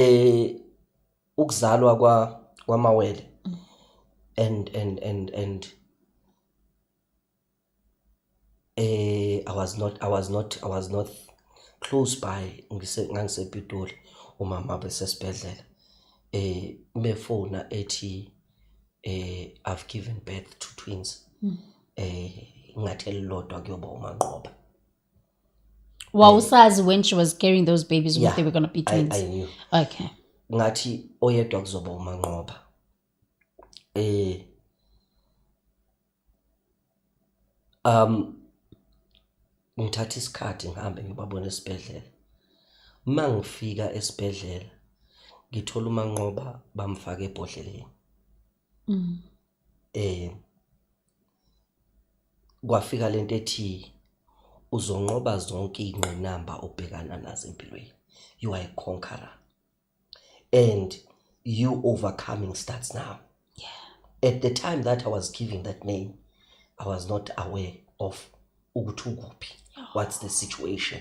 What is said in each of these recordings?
eh ukuzalwa kwa kwamawele and and and and eh i was not i was not i was not close by ngise ngangisepitoli umama besesibhedlela eh befona ethi eh i've given birth to twins mm. eh ngathi elilodwa kuyoba umanqoba wawusazi when she was carrying those babies yeah. they were gonna be twins I, I knew. okay ngathi oyedwa kuzoba umanqoba eh um ngithatha isikhathi ngihambe ngibabone esibhedlela uma ngifika esibhedlela ngithola umanqoba bamfaka ebhodleleni mm. eh kwafika lento ethi uzonqoba zonke ingqinamba obhekana nazo empilweni you are a conqueror and you overcoming starts now yeah at the time that i was giving that name i was not aware of ukuthi ukuphi what's the situation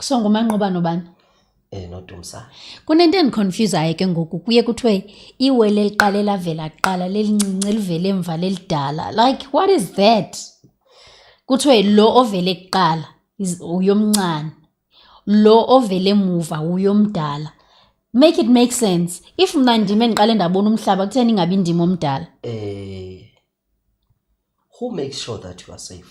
so ngumanqoba nobani eh nodumsa kunento endiconfusayo ke ngoku kuye kuthiwe iwele eliqale lavela kuqala lelincinci elivele emva lelidala like what is that kuthiwe lo ovele kuqala is- uyomncane lo ovele emuva uyomdala make it make sense if mna ndim endiqale ndabona umhlaba kutheni ingabi ndim omdala eh who makes sure that you are safe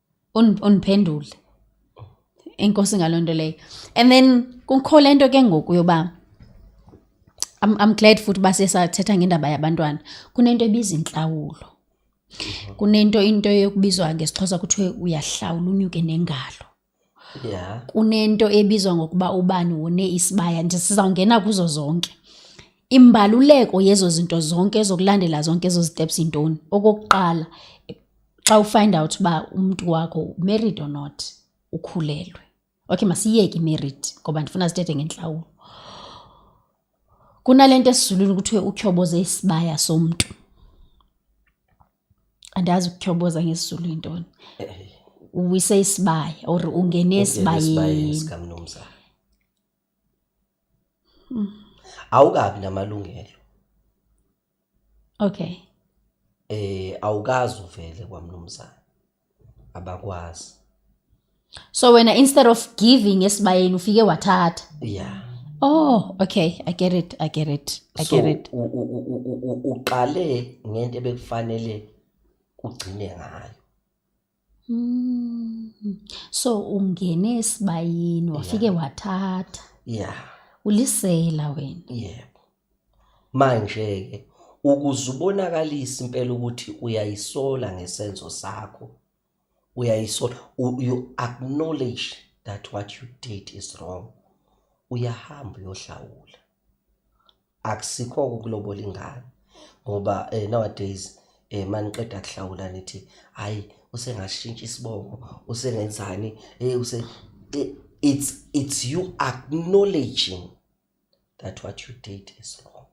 uniphendule inkosi ngalonto leyo and then kukho lento ke ngoku yoba I'm, I'm glad futhi uba sesathetha ngendaba yabantwana kunento ebiza intlawulo kunento into yokubizwa ngesixhosa kuthiwe uyahlawula unyuke nengalo yeah. kunento ebizwa ngokuba ubani wone isibaya nje sizawungena kuzo zonke imbaluleko yezo zinto zonke ezokulandela zonke ezo ziteps intoni okokuqala xa ufind out uba umntu wakho married or not ukhulelwe okay masiyeke imarried ngoba ndifuna sithethe ngentlawulo kunale nto esizulwini kuthiwe utyhoboze isibaya somntu andazi ukutyhoboza ngesizulu yintoni uwise isibaya or ungene esibayeni Mm. Awukabi namalungelo. Okay. Eh awukazi uvele kwamnumzana. Abakwazi. So wena instead of giving esibayeni ufike wathatha. Yeah. Oh, okay, I get it. I get it. I so, get it. So uqale ngento ebekufanele ugcine ngayo. Mm. So ungene esibayini wafike wathatha. Yeah. Ulisela wena. Yebo. Manje ke ukuzubonakalisa impela ukuthi uyayisola ngesenzo sakho. Uyayisola you acknowledge that what you did is wrong. Uyahamba uyohlawula. akusikho ukulobola ingane ngoba eh, nowadays eh maniqeda kuhlawula nithi hayi usengashintsha isibongo usengenzani eh use eh, it's it's you acknowledging that what you did is wrong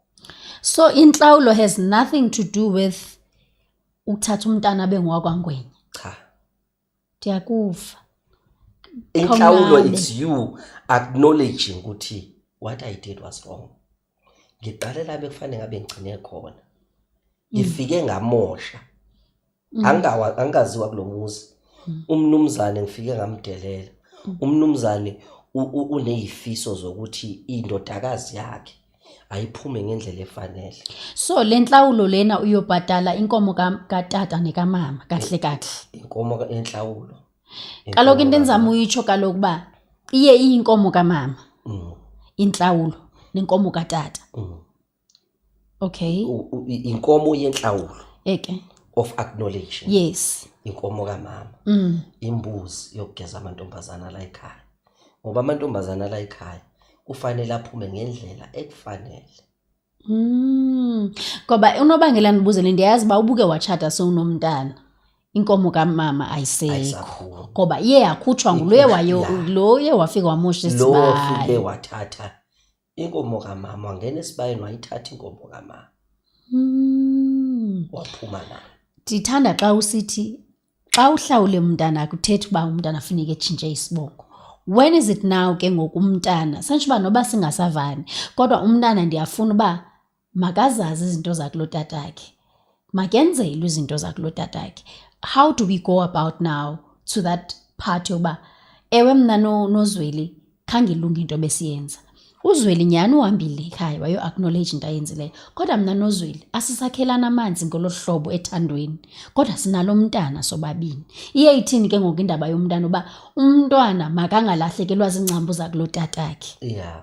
so inhlawulo has nothing to do with ukuthatha umntana bengwakwangwenye cha ndiyakuva inhlawulo it's you acknowledging ukuthi what i did was wrong ngiqale la bekufanele ngabe ngigcine khona mm. ngifike ngamosha mm. angawa angaziwa kulomuzi mm. umnumzane ngifike ngamdelela umnumzane unezifiso zokuthi indodakazi yakhe ayiphume ngendlela efanele so le nhlawulo lena uyobhadala inkomo katata nekamama kahle kahle inkomo enhlawulo kaloku into endizama uyitsho kaloku uba iye iyinkomo kamama mm. inhlawulo nenkomo katata mm. okay inkomo yenhlawulo eke of acknowledging yes inkomo kamama mm. imbuzi yokugeza amantombazana la ekhaya ngoba amantombazana la ekhaya kufanele aphume ngendlela ekufanele mm ngoba unobangela nibuze le ndiyazi ba ubuke wachata sewunomntana inkomo kamama ayisekho ngoba iye yakhutshwa nguloye wayo loye wafika wamosha isibaya lo wafike wathatha inkomo kamama wangena esibayeni wayithatha inkomo kamama Mm. waphuma nayo ndithanda xa usithi xa uhlawule umntana akuthethi uba umntana funeka etshintshe isibongo when is it now ke ngoku umntana santsho uba noba singasavani kodwa umntana ndiyafuna uba makazazi izinto zakulotatakhe makenzelwe izinto zakulotatakhe how do we go about now to that part yokuba ewe mna nozweli no khangilunge into besiyenza uzweli nyhani uhambile ekhaya wayo-acknowledge into ayenzileyo kodwa mna nozweli asisakhelana amanzi ngolo hlobo ethandweni kodwa sinalo mntana sobabini iye ithini ke ngoku indaba yomntana uba umntwana makangalahlekelwa ziingcambu zakulo tatakhe yeah.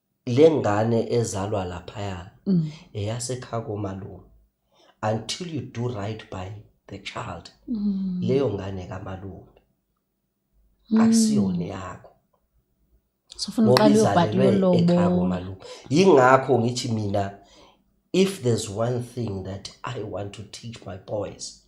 lengane ezalwa laphaya mm. eyasekhaya komalume until you do right by the child mm. leyo ngane kamalume mm. akusiyona yakho sofuna uqale ubhadile lobo yingakho ngithi mina if there's one thing that i want to teach my boys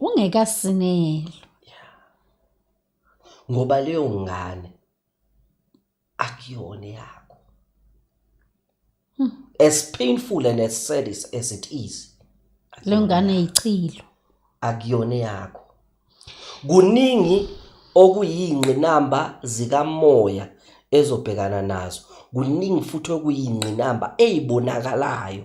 ungekasinelwa ngoba leyo ngane akuyona yakho hmm. as painful and as sad as it is le ngane ichilo akuyona yakho kuningi okuyingqinamba zikamoya ezobhekana nazo kuningi futhi okuyingqinamba eyibonakalayo